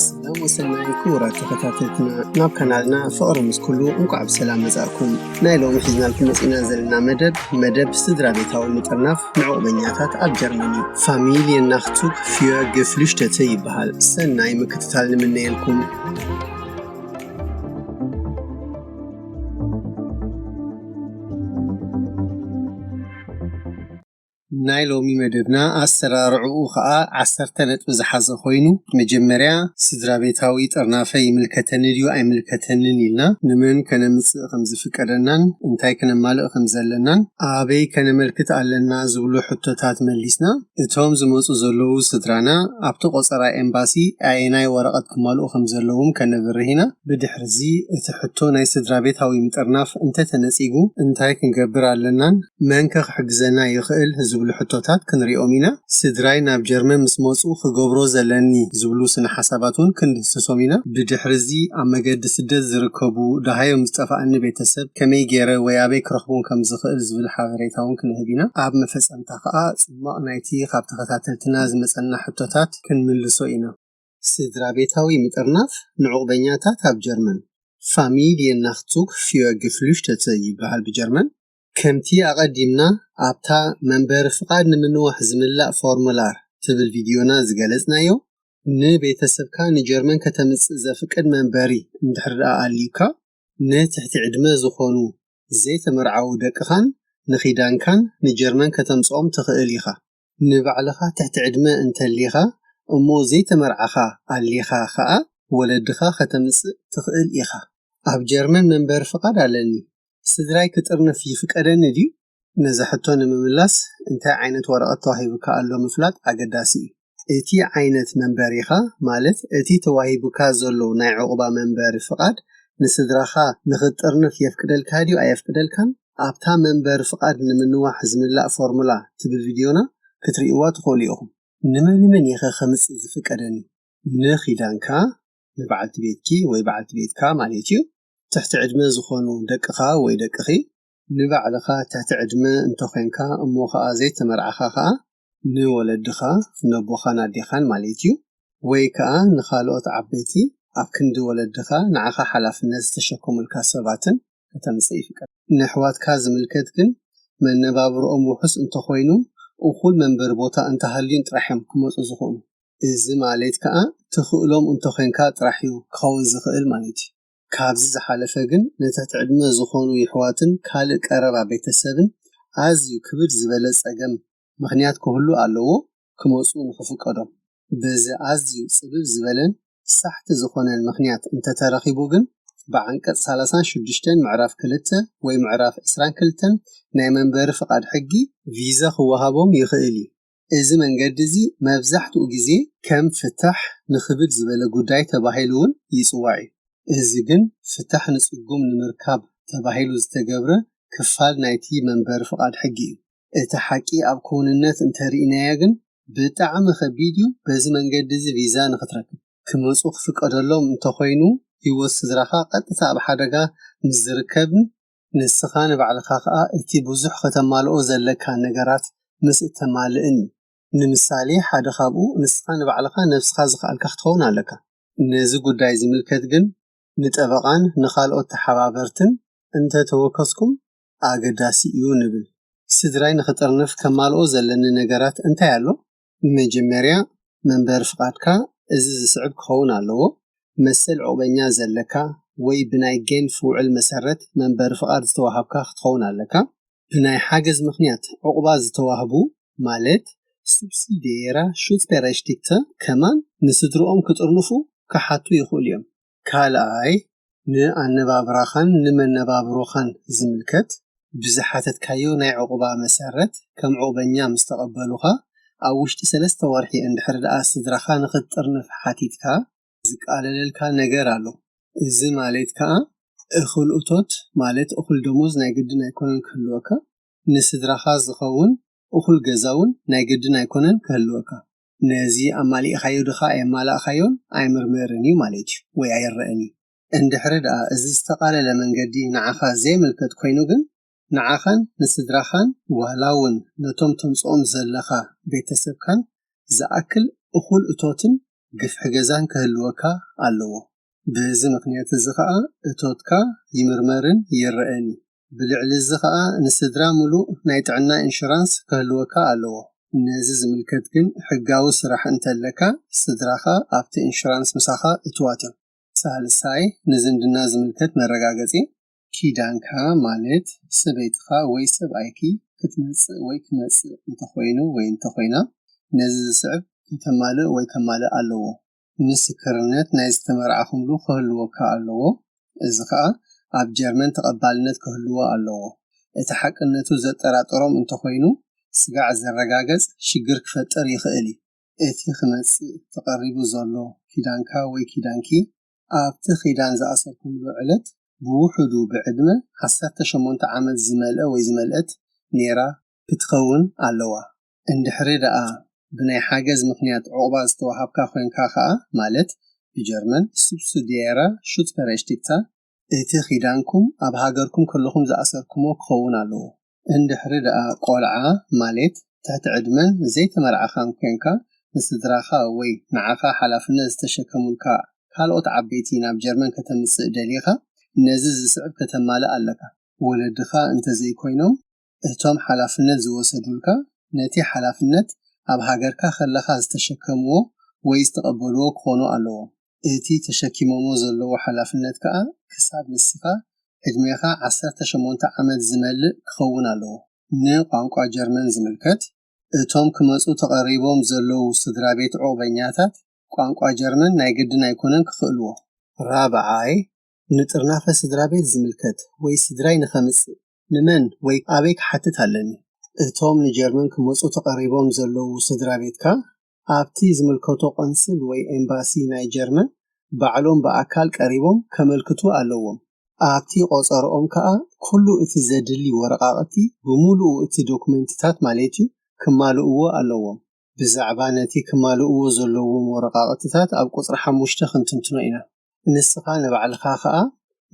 ሰላም ወሰናይ ክቡራት ተኸታተልትና ናብ ካናልና ፍቕሪ ምስ ኩሉ እንቋዕ ብሰላም መጻእኩም ናይ ሎሚ ሒዝናልኩም መጺእና ዘለና መደብ መደብ ስድራ ቤታዊ ምጥርናፍ ንዕቑበኛታት ኣብ ጀርመኒ ፋሚልየ ናክቱክ ፍዮ ግፍልሽተተ ይበሃል ሰናይ ምክትታል ንምነየልኩም ናይ ሎሚ መደብና ኣሰራርዕኡ ከኣ ዓሰርተ ነጥቢ ዝሓዘ ኮይኑ መጀመርያ ስድራቤታዊ ጥርናፈ ይምልከተኒ ድዩ ኣይምልከተንን ኢልና ንመን ከነምጽእ ከም ዝፍቀደናን እንታይ ክነማልእ ከም ዘለናን ኣበይ ከነመልክት ኣለና ዝብሉ ሕቶታት መሊስና እቶም ዝመጹ ዘለዉ ስድራና ኣብቲ ቆጸራ ኤምባሲ ኣየናይ ወረቐት ክማልኡ ከም ዘለዎም ከነብርህ ኢና ብድሕርዚ እቲ ሕቶ ናይ ስድራቤታዊ ምጥርናፍ እንተተነጺጉ እንታይ ክንገብር ኣለናን መንከ ክሕግዘና ይኽእል ዝብሉ ሕቶታት ክንሪኦም ኢና። ስድራይ ናብ ጀርመን ምስ መጹ ክገብሮ ዘለኒ ዝብሉ ስነሓሳባት ውን ክንድህስሶም ኢና። ብድሕሪ'ዚ ኣብ መገዲ ስደት ዝርከቡ ደሃዮም ዝጠፋኣኒ ቤተሰብ ከመይ ጌረ ወይ ኣበይ ክረኽቦም ከም ዝኽእል ዝብል ሓበሬታ ውን ክንህብ ኢና። ኣብ መፈጸምታ ከኣ ጽሟቕ ናይቲ ካብ ተኸታተልትና ዝመጸና ሕቶታት ክንምልሶ ኢና። ስድራቤታዊ ምጥርናፍ ንዑቕበኛታት ኣብ ጀርመን፣ Familjen-Nachzug für Geflüchtete፣ ይበሃል ብጀርመን። ከምቲ ኣቐዲምና ኣብታ መንበሪ ፍቓድ ንምንዋሕ ዝምላእ ፎርሙላር ትብል ቪድዮና ዝገለጽናዮ፣ ንቤተሰብካ ንጀርመን ከተምጽእ ዘፍቅድ መንበሪ እንድሕሪ ደኣ ኣልዩካ፣ ንትሕቲ ዕድመ ዝኾኑ ዘይተመርዓዉ ደቅኻን ንኺዳንካን ንጀርመን ከተምጽኦም ትኽእል ኢኻ። ንባዕልኻ ትሕቲ ዕድመ እንተሊኻ እሞ ዘይተመርዓኻ ኣሊኻ ከኣ ወለድኻ ከተምጽእ ትኽእል ኢኻ። ኣብ ጀርመን መንበሪ ፍቓድ ኣለኒ፣ ስድራይ ክጥርንፍ ይፍቀደኒ ድዩ? ነዚ ሕቶ ንምምላስ እንታይ ዓይነት ወረቐት ተዋሂቡካ ኣሎ ምፍላጥ ኣገዳሲ እዩ። እቲ ዓይነት መንበሪኻ ማለት እቲ ተዋሂቡካ ዘሎ ናይ ዑቕባ መንበሪ ፍቓድ ንስድራኻ ንኽትጥርንፍ የፍቅደልካ ድዩ ኣየፍቅደልካን? ኣብታ መንበሪ ፍቓድ ንምንዋሕ ዝምላእ ፎርሙላ ትብል ቪድዮና ክትርእይዋ ትኽእሉ ኢኹም። ንመን መን እየኸ ከምጽእ ዝፍቀደኒ? ንኪዳንካ፣ ንበዓልቲ ቤትኪ ወይ በዓልቲ ቤትካ ማለት እዩ፣ ትሕቲ ዕድመ ዝኾኑ ደቅኻ ወይ ደቅኺ፣ ንባዕልኻ ትሕቲ ዕድመ እንተኾይንካ እሞ ኸኣ ዘይተመርዓኻ ኸኣ ንወለድኻ፣ ነቦኻን ኣዴኻን ማለት እዩ፣ ወይ ከኣ ንኻልኦት ዓበይቲ ኣብ ክንዲ ወለድኻ ንዓኻ ሓላፍነት ዝተሸከሙልካ ሰባትን ከተምጽእ ይፍቀድ። ንኣሕዋትካ ዝምልከት ግን መነባብሮኦም ውሑስ እንተኾይኑ እኹል መንበሪ ቦታ እንተሃልዩን ጥራሕ እዮም ክመጹ ዝኽእሉ። እዚ ማለት ከኣ ትኽእሎም እንተኾይንካ ጥራሕ እዩ ክኸውን ዝኽእል ማለት እዩ። ካብዚ ዝሓለፈ ግን ንትሕቲ ዕድመ ዝኾኑ የሕዋትን ካልእ ቀረባ ቤተሰብን ኣዝዩ ክብድ ዝበለ ጸገም ምኽንያት ክህሉ ኣለዎ ክመጹ ንኽፍቀዶም በዚ ኣዝዩ ጽብብ ዝበለን ሳሕቲ ዝኾነን ምኽንያት እንተተረኺቡ ግን ብዓንቀጽ ሳላሳን ሽዱሽተን ምዕራፍ ክልተ ወይ ምዕራፍ ዕስራን ክልተን ናይ መንበሪ ፍቃድ ሕጊ ቪዛ ክወሃቦም ይኽእል እዩ። እዚ መንገዲ እዚ መብዛሕትኡ ግዜ ከም ፍታሕ ንክብድ ዝበለ ጉዳይ ተባሂሉ እውን ይጽዋዕ እዩ። እዚ ግን ፍታሕ ንጽጉም ንምርካብ ተባሂሉ ዝተገብረ ክፋል ናይቲ መንበሪ ፍቓድ ሕጊ እዩ። እቲ ሓቂ ኣብ ክውንነት እንተ ርኢናዮ ግን ብጣዕሚ ከቢድ እዩ በዚ መንገዲ እዚ ቪዛ ንክትረክብ። ክመጹ ክፍቀደሎም እንተ ኾይኑ ህይወት ስድራኻ ቀጥታ ኣብ ሓደጋ ምስ ዝርከብን ንስኻ ንባዕልኻ ከኣ እቲ ብዙሕ ከተማልኦ ዘለካ ነገራት ምስ እተማልእን እዩ። ንምሳሌ ሓደ ካብኡ ንስኻ ንባዕልኻ ነብስኻ ዝኸኣልካ ክትኸውን ኣለካ። ነዚ ጉዳይ ዝምልከት ግን ንጠበቓን ንኻልኦት ተሓባበርትን እንተ ተወከስኩም ኣገዳሲ እዩ ንብል። ስድራይ ንኽጥርንፍ ከማልኦ ዘለኒ ነገራት እንታይ ኣሎ? መጀመርያ መንበሪ ፍቓድካ እዚ ዝስዕብ ክኸውን ኣለዎ፣ መሰል ዑቕበኛ ዘለካ ወይ ብናይ ጌንፍ ውዕል መሰረት መንበሪ ፍቓድ ዝተዋሃብካ ክትኸውን ኣለካ። ብናይ ሓገዝ ምኽንያት ዑቕባ ዝተዋህቡ ማለት Subsidiära Schutzberechtigte ከማን ንስድርኦም ክጥርንፉ ክሓቱ ይኽእሉ እዮም። ካልኣይ ንኣነባብራኻን ንመነባብሮኻን ዝምልከት ብዝሓተትካዮ ናይ ዑቕባ መሰረት ከም ዑቕበኛ ምስ ተቐበሉኻ ኣብ ውሽጢ ሰለስተ ወርሒ እንድሕሪ ደኣ ስድራኻ ንኽትጥርንፍ ሓቲትካ ዝቃለለልካ ነገር ኣሎ እዚ ማሌት ከኣ እኹል እቶት ማለት እኹል ደሞዝ ናይ ግድን ኣይኮነን ክህልወካ ንስድራኻ ዝኸውን እኹል ገዛውን ናይ ግድን ኣይኮነን ክህልወካ ነዚ ኣማሊእኻዮ ድኻ ኣየማላእኻዮን ኣይምርመርን እዩ ማለት እዩ ወይ ኣይረእን እዩ። እንድሕሪ ድኣ እዚ ዝተቓለለ መንገዲ ንዓኻ ዘይምልከት ኮይኑ ግን ንዓኻን ንስድራኻን ዋላ ውን ነቶም ተምጽኦም ዘለኻ ቤተሰብካን ዝኣክል እኹል እቶትን ግፍሒ ገዛን ክህልወካ ኣለዎ። በዚ ምኽንያት እዚ ከኣ እቶትካ ይምርመርን ይረእን እዩ። ብልዕሊ እዚ ከኣ ንስድራ ምሉእ ናይ ጥዕና ኢንሹራንስ ከህልወካ ኣለዎ። ነዚ ዝምልከት ግን ሕጋዊ ስራሕ እንተለካ ስድራኻ ኣብቲ ኢንሹራንስ ምሳኻ እቱዋት እዮም። ሳልሳይ፣ ንዝምድና ዝምልከት መረጋገጺ። ኪዳንካ ማለት ሰበይትኻ ወይ ሰብኣይኪ ክትመጽእ ወይ ክመጽእ እንተኾይኑ ወይ እንተኾይና ነዚ ዝስዕብ ከተማልእ ወይ ከማልእ ኣለዎ። ምስክርነት ናይ ዝተመርዓኹምሉ ክህልወካ ኣለዎ፣ እዚ ኸኣ ኣብ ጀርመን ተቐባልነት ክህልዎ ኣለዎ። እቲ ሓቅነቱ ዘጠራጥሮም እንተ ኾይኑ፣ ስጋዕ ዘረጋገጽ ሽግር ክፈጥር ይኽእል እዩ። እቲ ክመጽእ ተቐሪቡ ዘሎ ኪዳንካ ወይ ኪዳንኪ፣ ኣብቲ ኪዳን ዝኣሰርኩምሉ ዕለት ብውሑዱ ብዕድመ ዓሰርተ ሸሞንተ ዓመት ዝመልአ ወይ ዝመልአት ኔራ ክትኸውን ኣለዋ። እንድሕሪ ደኣ ብናይ ሓገዝ ምኽንያት ዑቕባ ዝተወሃብካ ኮይንካ ከኣ፣ ማለት ብጀርመን Subsidiäre Schutzberechtigter፣ እቲ ኪዳንኩም ኣብ ሃገርኩም ከለኹም ዝኣሰርኩሞ ክኸውን ኣለዎ። እንድሕሪ ደኣ ቆልዓ፣ ማሌት ትሕቲ ዕድመን ዘይተመርዓኻን ኮይንካ፣ ንስድራኻ ወይ ንዓኻ ሓላፍነት ዝተሸከሙልካ ካልኦት ዓበይቲ ናብ ጀርመን ከተምጽእ ደሊኻ፣ ነዚ ዝስዕብ ከተማልእ ኣለካ። ወለድኻ እንተዘይኮይኖም፣ እቶም ሓላፍነት ዝወሰዱልካ ነቲ ሓላፍነት ኣብ ሃገርካ ከለኻ ዝተሸከምዎ ወይ ዝተቐበልዎ ክኾኑ ኣለዎም። እቲ ተሸኪሞሞ ዘለዉ ሓላፍነት ከኣ ክሳብ ንስኻ ዕድሜኻ ዓሰርተ ሸሞንተ ዓመት ዝመልእ ክኸውን ኣለዎ። ንቋንቋ ጀርመን ዝምልከት፣ እቶም ክመጹ ተቐሪቦም ዘለዉ ስድራቤት ዑቕበኛታት ቋንቋ ጀርመን ናይ ግድን ኣይኮነን ክኽእልዎ። ራብዓይ፣ ንጥርናፈ ስድራቤት ዝምልከት ወይ ስድራይ ንኸምጽእ ንመን ወይ ኣበይ ክሓትት ኣለኒ? እቶም ንጀርመን ክመጹ ተቐሪቦም ዘለዉ ስድራቤትካ ኣብቲ ዝምልከቶ ቆንስል ወይ ኤምባሲ ናይ ጀርመን ባዕሎም ብኣካል ቀሪቦም ከመልክቱ ኣለዎም። ኣብቲ ቆጸርኦም ከኣ ኩሉ እቲ ዘድሊ ወረቓቕቲ፣ ብምሉኡ እቲ ዶኩመንትታት ማለት'ዩ፣ ክማልእዎ ኣለዎም። ብዛዕባ ነቲ ክማልእዎ ዘለዎም ወረቓቕትታት ኣብ ቁጽሪ ሓሙሽተ ክንትንትኖ ኢና። ንስኻ ንባዕልኻ ከኣ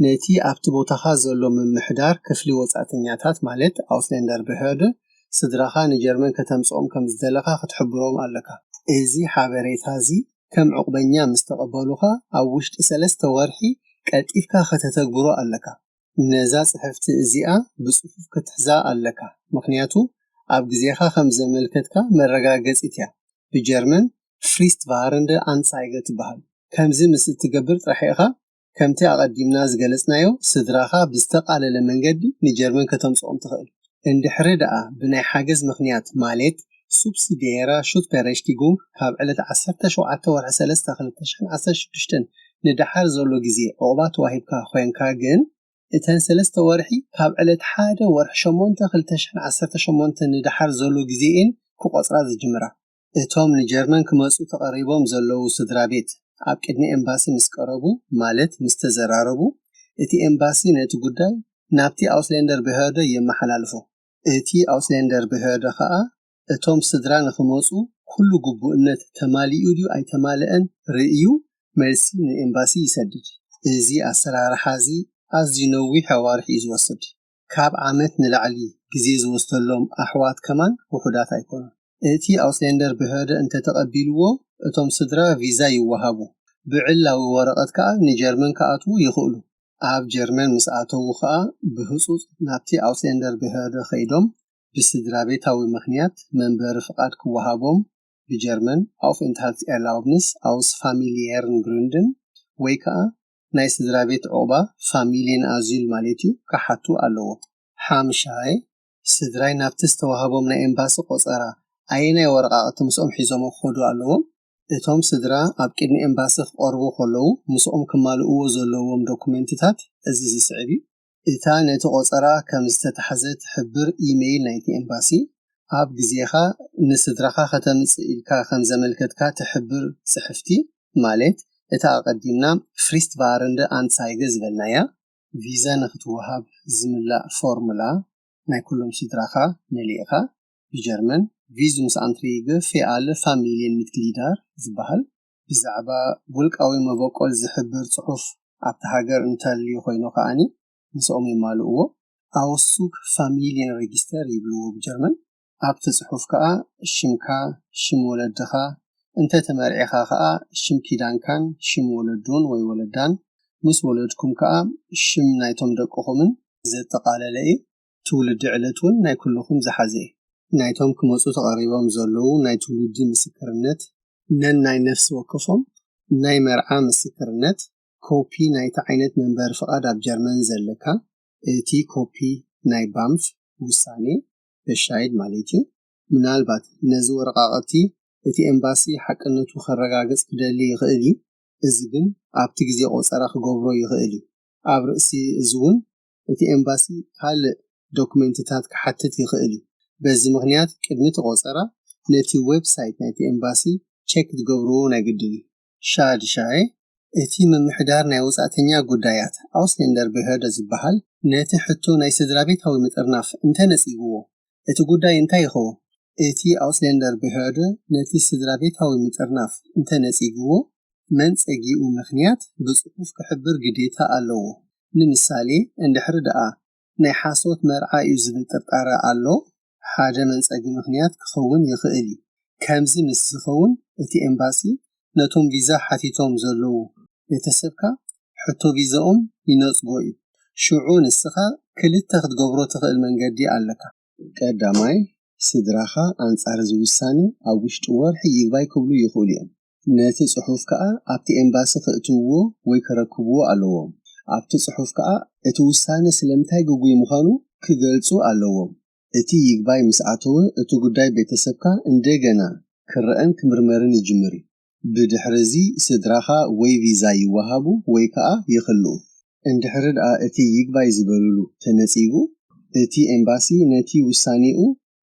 ነቲ ኣብቲ ቦታኻ ዘሎ ምምሕዳር ክፍሊ ወጻእተኛታት ማለት Ausländerbehörde ስድራኻ ንጀርመን ከተምጽኦም ከም ዝደለኻ ክትሕብሮም ኣለካ። እዚ ሓበሬታ እዚ ከም ዑቕበኛ ምስ ተቐበሉኻ ኣብ ውሽጢ ሰለስተ ወርሒ ቀልጢፍካ ከተተግብሮ ኣለካ። ነዛ ጽሕፍቲ እዚኣ ብጽፉፍ ክትሕዛ ኣለካ ምክንያቱ ኣብ ግዜካ ከም ዘመልከትካ መረጋገጺት እያ ብጀርመን Fristwarende Anzeige ትበሃል ከምዚ ምስ እትገብር ጥራሕ ኢካ ከምቲ ኣቀዲምና ዝገለጽናዮ ስድራካ ብዝተቃለለ መንገዲ ንጀርመን ከተምጽኦም ትክእል። እንድሕሪ ደኣ ብናይ ሓገዝ ምክንያት ማሌት፣ Subsidiärer Schutzberechtigung፣ ካብ ዕለት ዓሰርተ ሸውዓተ ወርሒ ሰለስተ ክልተ ሽሕን ዓሰርተ ሽዱሽተን ንደሓር ዘሎ ግዜ ዑቕባ ተዋሂብካ ኮይንካ ግን፣ እተን ሰለስተ ወርሒ ካብ ዕለት ሓደ ወርሒ ሸሞንተ ክልተ ሽሕን ዓሰርተ ሸሞንተን ንደሓር ዘሎ ግዜ'የን ክቖጽራ ዝጅምራ። እቶም ንጀርመን ክመጹ ተቐሪቦም ዘለዉ ስድራቤት ኣብ ቅድሚ ኤምባሲ ምስ ቀረቡ ማለት ምስ ተዘራረቡ፣ እቲ ኤምባሲ ነቲ ጉዳይ ናብቲ ኣውስሌንደር በህርደ የመሓላልፎ። እቲ ኣውስሌንደር በህርደ ከኣ እቶም ስድራ ንኽመጹ ኩሉ ግቡእነት ተማሊኡ ድዩ ኣይተማልኣን ርእዩ መልሲ ንኤምባሲ ይሰድድ። እዚ ኣሰራርሓ'ዚ ኣዝዩ ነዊሕ ኣዋርሕ እዩ ዝወስድ። ካብ ዓመት ንላዕሊ ግዜ ዝወስደሎም ኣሕዋት ከማን ውሑዳት ኣይኮኑን። እቲ ኣውስሌንደር ብህረ እንተ ተቐቢልዎ፣ እቶም ስድራ ቪዛ ይወሃቡ፣ ብዕላዊ ወረቐት ከኣ ንጀርመን ክኣትዉ ይኽእሉ። ኣብ ጀርመን ምስ ኣተዉ ከኣ ብህጹጽ ናብቲ ኣውስሌንደር ብህረ ከይዶም ብስድራቤታዊ ምኽንያት መንበሪ ፍቓድ ክወሃቦም፣ ብጀርመን Aufenthaltserlaubnis aus familiären Gründen፣ ወይ ከኣ ናይ ስድራቤት ዑቕባ፣ ፋሚልየን ኣዚል ማሌት'ዩ፣ ክሓቱ ኣለዎም። ሓምሻይ፣ ስድራይ ናብቲ ዝተዋህቦም ናይ ኤምባሲ ቆጸራ ኣየናይ ወረቓቕቲ ምስኦም ሒዞሞ ክኸዱ ኣለዎም? እቶም ስድራ ኣብ ቅድሚ ኤምባሲ ክቐርቡ ከለዉ ምስኦም ክማልእዎ ዘለዎም ዶኩመንትታት እዚ ዝስዕብ'ዩ። እታ ነቲ ቆጸራ ከም ዝተታሕዘ ትሕብር ኢመይል ናይቲ ኤምባሲ፣ ኣብ ግዜኻ ንስድራኻ ከተምጽእ ኢልካ ከም ዘመልከትካ ትሕብር ጽሕፍቲ፣ ማለት እታ ኣቐዲምና ፍሪስትቫረንደ ኣንትሳይገ ዝበልናያ፣ ቪዛ ንኽትወሃብ ዝምላእ ፎርሙላ ናይ ኩሎም ስድራኻ መሊእካ፣ ብጀርመን፣ ቪዙምስኣንትሪይገ ፌ ኣለ ፋሚልየን ሚትግሊዳር ዝበሃል፣ ብዛዕባ ውልቃዊ መበቆል ዝሕብር ጽሑፍ ኣብታ ሃገር እንተልዩ ኮይኑ ከኣ ምስኦም የማልእዎ፣ Auszug Familienregister ይብልዎ ብጀርመን፣ ኣብቲ ጽሑፍ ከኣ ሽምካ፣ ሽም ወለድኻ፣ እንተ ተመርዒኻ ከኣ ሽም ኪዳንካን ሽም ወለዱን ወይ ወለዳን፣ ምስ ወለድኩም ከኣ ሽም ናይቶም ደቅኹምን፣ ዘጠቓለለ እዩ። ትውልዲ ዕለት ውን ናይ ኩሉኹም ዝሓዘ እዩ። ናይቶም ክመጹ ተቐሪቦም ዘለዉ ናይ ትውልዲ ምስክርነት፣ ነናይ ነፍሲ ወከፎም ናይ መርዓ ምስክርነት፣ ኮፒ ናይቲ ዓይነት መንበሪ ፍቓድ ኣብ ጀርመን ዘለካ፣ እቲ ኮፒ ናይ ባምፍ ውሳኔ፣ Bescheid፣ ማለት እዩ። ምናልባት ነዚ ወረቓቕቲ እቲ ኤምባሲ ሓቅነቱ ከረጋግጽ ክደሊ ይኽእል እዩ፣ እዚ ግን ኣብቲ ግዜ ቆጸራ ክገብሮ ይኽእል እዩ። ኣብ ርእሲ እዚ ውን እቲ ኤምባሲ ካልእ ዶክመንትታት ክሓትት ይኽእል እዩ። በዚ ምኽንያት ቅድሚ እቲ ቆጸራ ነቲ ወብ ሳይት ናይቲ ኤምባሲ ቸክ ክትገብርዎ ናይ ግድን እዩ። ሻድሻይ፣ እቲ ምምሕዳር ናይ ወጻእተኛ ጉዳያት፣ Ausländerbehörde፣ ዝበሃል ነቲ ሕቶ ናይ ስድራቤታዊ ምጥርናፍ እንተ ነጺግዎ፣ እቲ ጉዳይ እንታይ ይኸውን? እቲ ኣውስሌንደር ብሕዕዶ ነቲ ስድራቤታዊ ምጥርናፍ እንተ ነጺግዎ፣ መንጸጊኡ ምኽንያት ብጽሑፍ ክሕብር ግዴታ ኣለዎ። ንምሳሌ፣ እንድሕሪ ደኣ ናይ ሓሶት መርዓ እዩ ዝብል ጥርጣረ ኣሎ፣ ሓደ መንጸጊ ምኽንያት ክኸውን ይኽእል እዩ። ከምዚ ምስ ዝኸውን እቲ ኤምባሲ ነቶም ቪዛ ሓቲቶም ዘለዉ ቤተሰብካ ሕቶ ቪዘኦም ይነጽጎ እዩ። ሽዑ ንስኻ ክልተ ክትገብሮ ትኽእል መንገዲ ኣለካ። ቀዳማይ፣ ስድራኻ ኣንጻር እዚ ውሳነ ኣብ ውሽጢ ወርሒ ይግባይ ክብሉ ይኽእሉ እዮም። ነቲ ጽሑፍ ከኣ ኣብቲ ኤምባሲ ከእትውዎ ወይ ከረክብዎ ኣለዎም። ኣብቲ ጽሑፍ ከኣ እቲ ውሳነ ስለምንታይ ግጉይ ምዃኑ ክገልጹ ኣለዎም። እቲ ይግባይ ምስ ኣተወ እቲ ጉዳይ ቤተሰብካ እንደገና ክረኣን ክምርመርን ይጅምር እዩ። ብድሕሪ እዚ ስድራኻ ወይ ቪዛ ይወሃቡ ወይ ከኣ ይኽልኡ። እንድሕሪ ደኣ እቲ ይግባይ ዝበልሉ ተነጺጉ፣ እቲ ኤምባሲ ነቲ ውሳኔኡ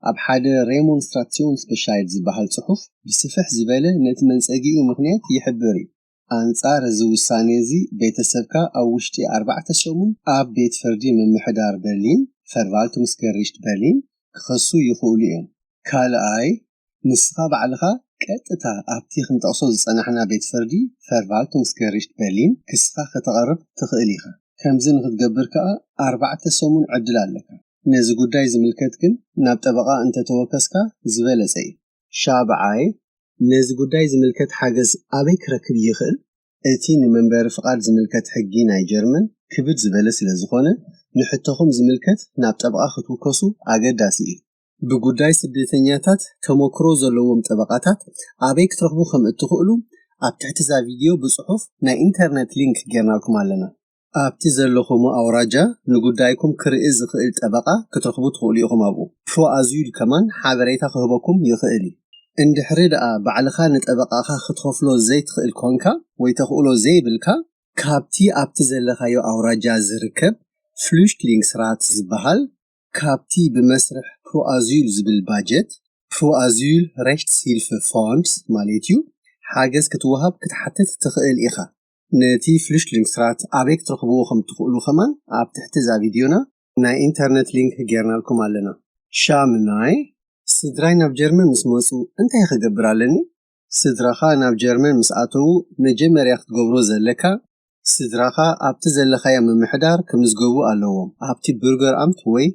ኣብ ሓደ Remonstrationsbescheid ዝበሃል ጽሑፍ ብስፍሕ ዝበለ ነቲ መንጸጊኡ ምኽንያት ይሕብር እዩ። ኣንጻር እዚ ውሳኔ እዚ ቤተሰብካ ኣብ ውሽጢ ኣርባዕተ ሰሙን ኣብ ቤት ፍርዲ ምምሕዳር በርሊን፣ Verwaltungsgericht Berlin፣ ክኸሱ ይኽእሉ እዮም። ካልኣይ፣ ንስኻ ባዕልኻ ቀጥታ ኣብቲ ክንጠቕሶ ዝጸናሕና ቤት ፍርዲ፣ Verwaltungsgericht Berlin፣ ክስኻ ከተቐርብ ትኽእል ኢኻ። ከምዚ ንኽትገብር ከኣ ኣርባዕተ ሰሙን ዕድል ኣለካ። ነዚ ጉዳይ ዝምልከት ግን ናብ ጠበቓ እንተ ተወከስካ ዝበለጸ እዩ። ሻብዓይ፣ ነዚ ጉዳይ ዝምልከት ሓገዝ ኣበይ ክረክብ ይኽእል? እቲ ንመንበሪ ፍቓድ ዝምልከት ሕጊ ናይ ጀርመን ክብድ ዝበለ ስለ ዝኾነ፣ ንሕቶኹም ዝምልከት ናብ ጠበቓ ክትውከሱ ኣገዳሲ እዩ። ብጉዳይ ስደተኛታት ተመክሮ ዘለዎም ጠበቓታት ኣበይ ክትረኽቡ ከም እትኽእሉ ኣብ ትሕቲ እዛ ቪድዮ ብጽሑፍ ናይ ኢንተርነት ሊንክ ጌርናልኩም ኣለና። ኣብቲ ዘለኹሞ ኣውራጃ ንጉዳይኩም ክርኢ ዝኽእል ጠበቓ ክትረኽቡ ትኽእሉ ኢኹም ኣብኡ ፕሮ ኣዙይል ከማን ሓበሬታ ክህበኩም ይኽእል እዩ እንድሕሪ ደኣ ባዕልኻ ንጠበቓኻ ክትኸፍሎ ዘይትኽእል ኮንካ ወይ ተኽእሎ ዘይብልካ ካብቲ ኣብቲ ዘለኻዮ ኣውራጃ ዝርከብ ፍሉሽትሊንግስራት ዝበሃል ካብቲ ብመስርሕ ፕሮ ኣዙይል ዝብል ባጀት ፕሮ ኣዙይል ረሽትስሂልፍ ፎንድስ ማሌት እዩ ሓገዝ ክትወሃብ ክትሓትት ትኽእል ኢኻ። ነቲ ፍሉሽትሊንግስትራት ኣበይ ክትረኽብዎ ከም እትኽእሉ ከማን ኣብ ትሕቲ እዛ ቪድዮና ናይ ኢንተርነት ሊንክ ጌርናልኩም ኣለና። ሻምናይ፣ ስድራይ ናብ ጀርመን ምስ መጹ እንታይ ክገብር ኣለኒ? ስድራኻ ናብ ጀርመን ምስ ኣተዉ መጀመርያ ክትገብሮ ዘለካ ስድራኻ ኣብቲ ዘለኻዮ ምምሕዳር ክምዝገቡ ኣለዎም፣ ኣብቲ Bürgeramt ወይ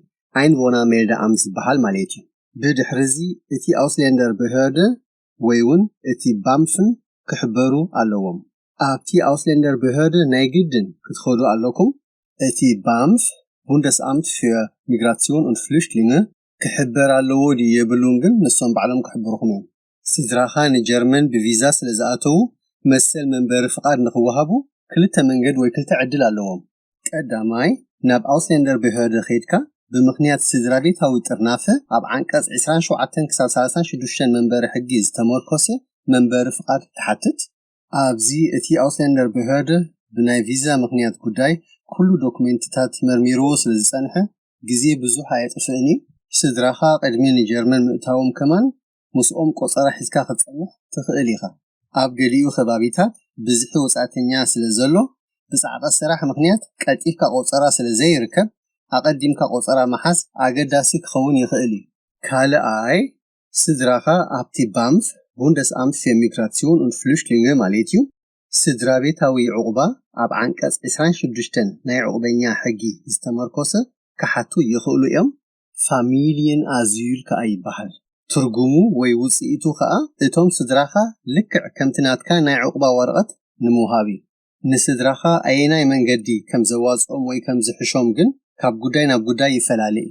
Einwohnermeldeamt ዝበሃል ማለት'ዩ። ብድሕርዚ እቲ Ausländerbehörde ወይውን እቲ ባምፍን ክሕበሩ ኣለዎም። ኣብቲ Ausländerbehörde ናይ ግድን ክትኸዱ ኣለኩም። እቲ ባምፍ፣ Bundesamt für Migration und Flüchtlinge፣ ክሕበር ኣለዎ ድዩ የብሉን ግን ንሶም ባዕሎም ክሕብሩኹም እዮም። ስድራኻ ንጀርመን ብቪዛ ስለዝኣተዉ መሰል መንበሪ ፍቓድ ንኽወሃቡ ክልተ መንገድ ወይ ክልተ ዕድል ኣለዎም። ቀዳማይ፣ ናብ Ausländerbehörde ኼድካ ብምኽንያት ስድራቤታዊ ጥርናፈ ኣብ ዓንቀጽ ዕስራን ሸውዓተን ክሳብ ሳላሳን ሽዱሽተን መንበሪ ሕጊ ዝተመርኰሰ መንበሪ ፍቓድ ትሓትት። ኣብዚ እቲ Ausländerbehörde ብናይ ቪዛ ምኽንያት ጉዳይ ኩሉ ዶኩሜንትታት መርሚርዎ ስለ ዝጸንሐ ግዜ ብዙሕ ኣየጥፍእን እዩ። ስድራኻ ቅድሚ ንጀርመን ምእታዎም ከማን ምስኦም ቆጸራ ሒዝካ ክትጸንሕ ትኽእል ኢኻ። ኣብ ገሊኡ ከባቢታት ብዝሒ ወጻእተኛ ስለ ዘሎ፣ ብጻዕቒ ስራሕ ምኽንያት ቀልጢፍካ ቆጸራ ስለ ዘይርከብ፣ ኣቐዲምካ ቆጸራ ምሓዝ ኣገዳሲ ክኸውን ይኽእል እዩ። ካልኣይ፣ ስድራኻ ኣብቲ ባምፍ፣ Bundesamt für Migration und Flüchtlinge፣ ማለት እዩ፣ ስድራቤታዊ ዑቕባ ኣብ ዓንቀጽ ዕስራን ሽዱሽተን ናይ ዑቕበኛ ሕጊ ዝተመርኮሰ ክሓቱ ይኽእሉ እዮም። ፋሚልይን ኣዝዩ ኢልካ ኣይበሃል ትርጉሙ ወይ ውጽኢቱ ከኣ እቶም ስድራኻ ልክዕ ከምቲ ናትካ ናይ ዑቕባ ወረቐት ንምውሃብ እዩ። ንስድራኻ ኣየናይ መንገዲ ከም ዘዋጽኦም ወይ ከም ዝሕሾም ግን ካብ ጉዳይ ናብ ጉዳይ ይፈላለ እዩ።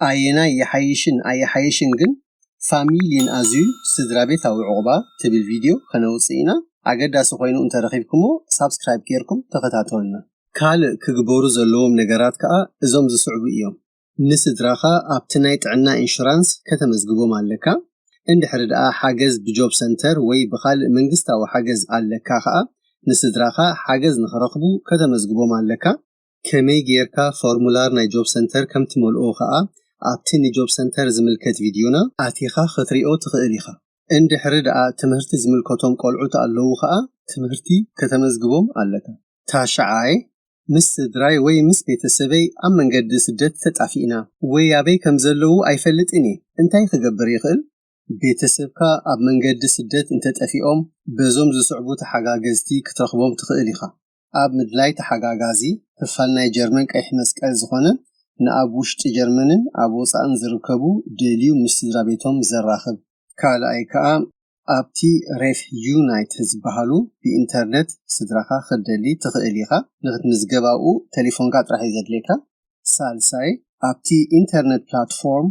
ኣየናይ ይሓይሽን ኣይሓይሽን ግን ፋሚልይን ኣዝዩ ስድራቤታዊ ዑቕባ ትብል ቪድዮ ከነውጽእ ኢና። ኣገዳሲ ኮይኑ እንተ ረኺብክሞ ሳብስክራይብ ጌርኩም ተኸታተሉና። ካልእ ክግበሩ ዘለዎም ነገራት ከኣ እዞም ዝስዕቡ እዮም። ንስድራኻ ኣብቲ ናይ ጥዕና ኢንሹራንስ ከተመዝግቦም ኣለካ። እንድሕሪ ደኣ ሓገዝ ብጆብ ሰንተር ወይ ብኻልእ መንግስታዊ ሓገዝ ኣለካ ከኣ ንስድራኻ ሓገዝ ንኽረኽቡ ከተመዝግቦም ኣለካ። ከመይ ጌርካ ፎርሙላር ናይ ጆብ ሰንተር ከም ትመልኦ ከኣ ኣብቲ ንጆብ ሰንተር ዝምልከት ቪድዮና ኣቲኻ ክትሪኦ ትኽእል ኢኻ። እንድሕሪ ደኣ ትምህርቲ ዝምልከቶም ቆልዑት ኣለዉ ከኣ ትምህርቲ ከተመዝግቦም ኣለካ። ታሽዓይ፣ ምስ ስድራይ ወይ ምስ ቤተሰበይ ኣብ መንገዲ ስደት ተጣፊእና ወይ ኣበይ ከም ዘለዉ ኣይፈልጥን እየ፣ እንታይ ክገብር ይኽእል? ቤተሰብካ ኣብ መንገዲ ስደት እንተጠፊኦም በዞም ዝስዕቡ ተሓጋገዝቲ ክትረኽቦም ትኽእል ኢኻ። ኣብ ምድላይ ተሓጋጋዚ፣ ክፋል ናይ ጀርመን ቀይሕ መስቀል ዝኾነ ንኣብ ውሽጢ ጀርመንን ኣብ ወጻእን ዝርከቡ ደልዩ ምስ ስድራቤቶም ዘራኽብ። ካልኣይ ከኣ ኣብቲ ሬፍ ዩናይት ዝበሃሉ ብኢንተርነት ስድራኻ ክትደሊ ትኽእል ኢኻ። ንኽትምዝገባኡ ተሌፎንካ ጥራሕ እዩ ዘድልየካ። ሳልሳይ፣ ኣብቲ ኢንተርነት ፕላትፎርም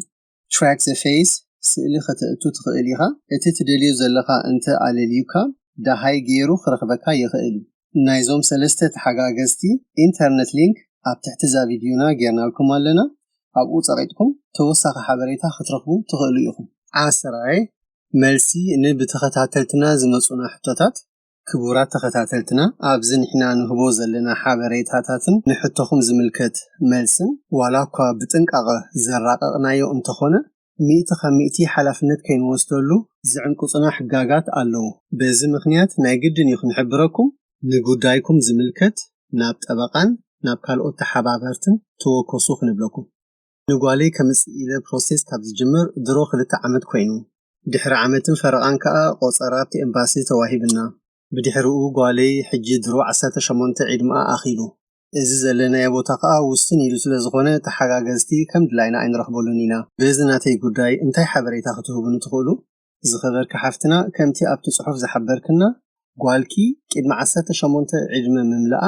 Track the Face ስእሊ ከተእቱ ትኽእል ኢኻ። እቲ ትደልዮ ዘለኻ እንተ ኣለልዩካ ደሃይ ገይሩ ክረኽበካ ይኽእል እዩ። ናይዞም ሰለስተ ተሓጋገዝቲ ኢንተርነት ሊንክ ኣብ ትሕቲ እዛ ቪድዮና ገይርናልኩም ኣለና። ኣብኡ ጸቒጥኩም ተወሳኺ ሓበሬታ ክትረኽቡ ትኽእሉ ኢኹም። ዓስራይ፣ መልሲ ን ብተኸታተልትና ዝመጹና ሕቶታት ክቡራት ተኸታተልትና ኣብዚ ንሕና ንህቦ ዘለና ሓበሬታታትን ንሕቶኹም ዝምልከት መልስን ዋላ እኳ ብጥንቃቐ ዘራቐቕናዮ እንተኾነ ሚእቲ ካብ ሚእቲ ሓላፍነት ከይንወስደሉ ዝዕንቅጹና ሕጋጋት ኣለዉ በዚ ምኽንያት ናይ ግድን እዩ ክንሕብረኩም ንጉዳይኩም ዝምልከት ናብ ጠበቓን ናብ ካልኦት ተሓባበርትን ተወከሱ ክንብለኩም። ንጓለይ ከምጽእ ኢለ ፕሮሰስ ካብ ዝጅምር ድሮ ክልተ ዓመት ኮይኑ። ድሕሪ ዓመትን ፈረቓን ከኣ ቆጸራ ኣብቲ ኤምባሲ ተዋሂብና። ብድሕርኡ ጓለይ ሕጂ ድሮ ዓሰርተ ሸሞንተ ዒድምኣ ኣኺሉ። እዚ ዘለናዮ ቦታ ከኣ ውስን ኢሉ ስለ ዝኾነ ተሓጋገዝቲ ከም ድላይና ኣይንረኽበሉን ኢና። በዚ ናተይ ጉዳይ እንታይ ሓበሬታ ክትህቡኒ ትኽእሉ? ዝኸበርኪ ሓፍትና ከምቲ ኣብቲ ጽሑፍ ዝሓበርክና ጓልኪ ቂድሚ ዓሰርተ ሸሞንተ ዒድመ ምምልኣ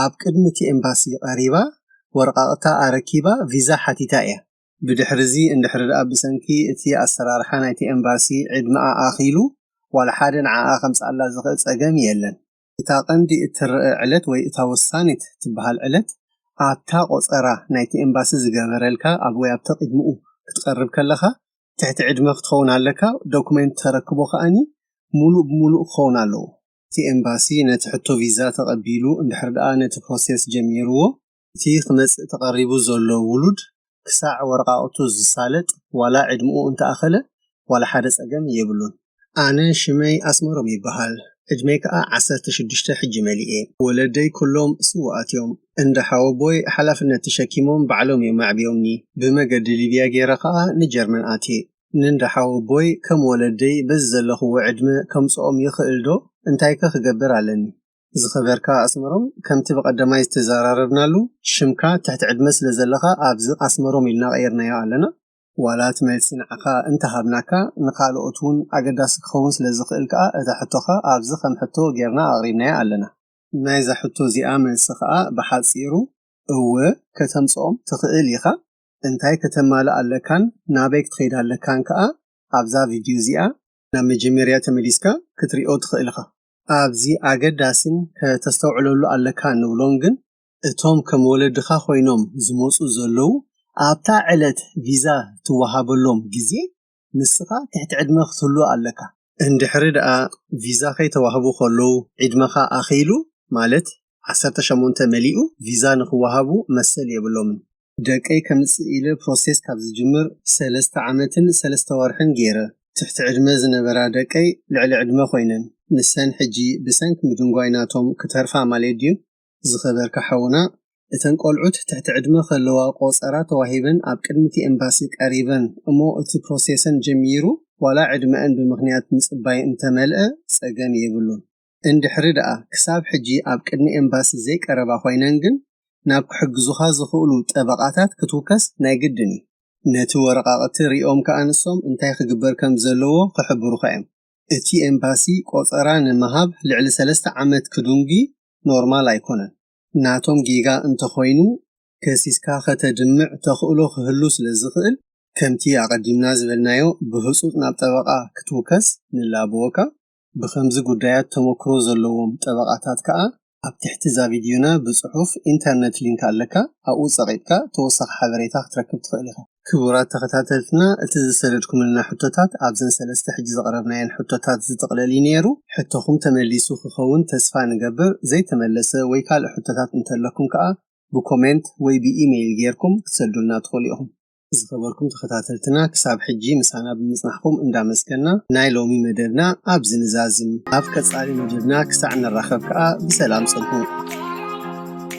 ኣብ ቅድሚ እቲ ኤምባሲ ቀሪባ ወረቓቕታ ኣረኪባ ቪዛ ሓቲታ እያ። ብድሕሪ እዚ እንድሕሪ ድኣ ብሰንኪ እቲ ኣሰራርሓ ናይቲ ኤምባሲ ዕድመኣ ኣኺሉ ዋላ ሓደ ንዓኣ ከምጽኣላ ዝኽእል ጸገም የለን። እታ ቀንዲ እትረኣ ዕለት ወይ እታ ወሳኒት ትበሃል ዕለት ኣብታ ቆጸራ ናይቲ ኤምባሲ ዝገበረልካ ኣብ ወይ ኣብ ተቅድሙኡ ክትቀርብ ከለኻ ትሕቲ ዕድመ ክትኸውን ኣለካ ዶኩሜንት ተረክቦ ከኣ ሙሉእ ብሙሉእ ክኸውን ኣለዎ። እቲ ኤምባሲ ነቲ ሕቶ ቪዛ ተቐቢሉ እንድሕር ደኣ ነቲ ፕሮሴስ ጀሚርዎ፣ እቲ ክመጽእ ተቐሪቡ ዘሎ ውሉድ ክሳዕ ወረቓቕቱ ዝሳለጥ ዋላ ዕድምኡ እንተኣኸለ ዋላ ሓደ ጸገም የብሉን። ኣነ ሽመይ ኣስመሮም ይበሃል ዕድመይ ከኣ ዓሰርተ ሽዱሽተ ሕጂ መሊኤ። ወለደይ ኩሎም ስዉኣት እዮም። እንዳ ሓወቦይ ሓላፍነት ተሸኪሞም ባዕሎም እዮም ኣዕብዮምኒ። ብመገዲ ሊብያ ጌረ ከኣ ንጀርመን ኣትየ። ንእንዳ ሓወቦይ ከም ወለደይ በዚ ዘለኽዎ ዕድመ ከምጽኦም ይኽእል ዶ እንታይከ ክገብር ኣለኒ። ዝኸበርካ ኣስመሮም ከምቲ ብቀዳማይ ዝተዘራረብናሉ ሽምካ ትሕቲ ዕድመ ስለ ዘለኻ ኣብዚ ኣስመሮም ኢልና ቀይርናዮ ኣለና ዋላ እቲ መልሲ ንዓኻ እንተ ሃብናካ ንኻልኦት ውን ኣገዳሲ ክኸውን ስለ ዝኽእል ከኣ እታ ሕቶኻ ኣብዚ ከም ሕቶ ጌርና ኣቕሪብናያ ኣለና። ናይዛ ሕቶ እዚኣ መልሲ ከኣ ብሓጺሩ እወ ከተምጽኦም ትኽእል ኢኻ። እንታይ ከተማልእ ኣለካን ናበይ ክትኸይድ ኣለካን ከኣ ኣብዛ ቪድዩ እዚኣ ናብ መጀመርያ ተመሊስካ ክትሪኦ ትኽእል ኢኻ። ኣብዚ ኣገዳሲን ከተስተውዕለሉ ኣለካ እንብሎን ግን እቶም ከም ወለድኻ ኮይኖም ዝመጹ ዘለዉ ኣብታ ዕለት ቪዛ ትወሃበሎም ግዜ ንስኻ ትሕቲ ዕድመ ክትህሉ ኣለካ። እንድሕሪ ደኣ ቪዛ ከይተዋህቡ ከለዉ ዒድመኻ ኣኺሉ ማለት ዓሰርተ ሸሞንተ መሊኡ ቪዛ ንኽወሃቡ መሰል የብሎምን። ደቀይ ከምጽእ ኢለ ፕሮሴስ ካብ ዝጅምር ሰለስተ ዓመትን ሰለስተ ወርሕን ጌረ። ትሕቲ ዕድመ ዝነበራ ደቀይ ልዕሊ ዕድመ ኮይነን። ንሰን ሕጂ ብሰንኪ ምድንጓይ ናቶም ክተርፋ ማለት ድዩ? ዝኸበርካ ሓውና እተን ቆልዑት ትሕቲ ዕድመ ከለዋ ቆጸራ ተዋሂበን ኣብ ቅድሚቲ ኤምባሲ ቀሪበን እሞ እቲ ፕሮሴሰን ጀሚሩ ዋላ ዕድመኣን ብምኽንያት ምጽባይ እንተመልኣ ጸገም የብሉን እንድሕሪ ድኣ ክሳብ ሕጂ ኣብ ቅድሚ ኤምባሲ ዘይቀረባ ኮይነን ግን ናብ ክሕግዙኻ ዝኽእሉ ጠበቓታት ክትውከስ ናይ ግድን እዩ ነቲ ወረቓቕቲ ሪኦም ከኣ ንሶም እንታይ ክግበር ከም ዘለዎ ክሕብሩኻ እዮም እቲ ኤምባሲ ቆጸራ ንምሃብ ልዕሊ ሰለስተ ዓመት ክዱንጊ ኖርማል ኣይኮነን። ናቶም ጌጋ እንተኾይኑ ከሲስካ ከተድምዕ ተኽእሎ ክህሉ ስለዝኽእል ከምቲ ኣቐዲምና ዝበልናዮ ብህጹጽ ናብ ጠበቓ ክትውከስ ንላበወካ። ብኸምዚ ጉዳያት ተመክሮ ዘለዎም ጠበቓታት ከኣ ኣብ ትሕቲ እዛ ቪድዮና ብጽሑፍ ኢንተርነት ሊንክ ኣለካ ኣብኡ ጸቒጥካ ተወሳኺ ሓበሬታ ክትረክብ ትኽእል ኢኻ። ክቡራት ተኸታተልትና እቲ ዝሰደድኩምልና ሕቶታት ኣብዘን ሰለስተ ሕጂ ዘቕረብናየን ሕቶታት ዝጥቕለል እዩ ነይሩ። ሕቶኹም ተመሊሱ ክኸውን ተስፋ ንገብር፣ ዘይተመለሰ ወይ ካልእ ሕቶታት እንተለኩም ከኣ ብኮሜንት ወይ ብኢመይል ጌርኩም ክትሰዱልና ትኽእሉ ኢኹም። ዝኸበርኩም ተኸታተልትና ክሳብ ሕጂ ምሳና ብምጽናሕኩም እንዳመስገና ናይ ሎሚ መደብና ኣብዚ ንዛዝም። ኣብ ቀጻሊ መደብና ክሳዕ ንራኸብ ከኣ ብሰላም ጽንሑ።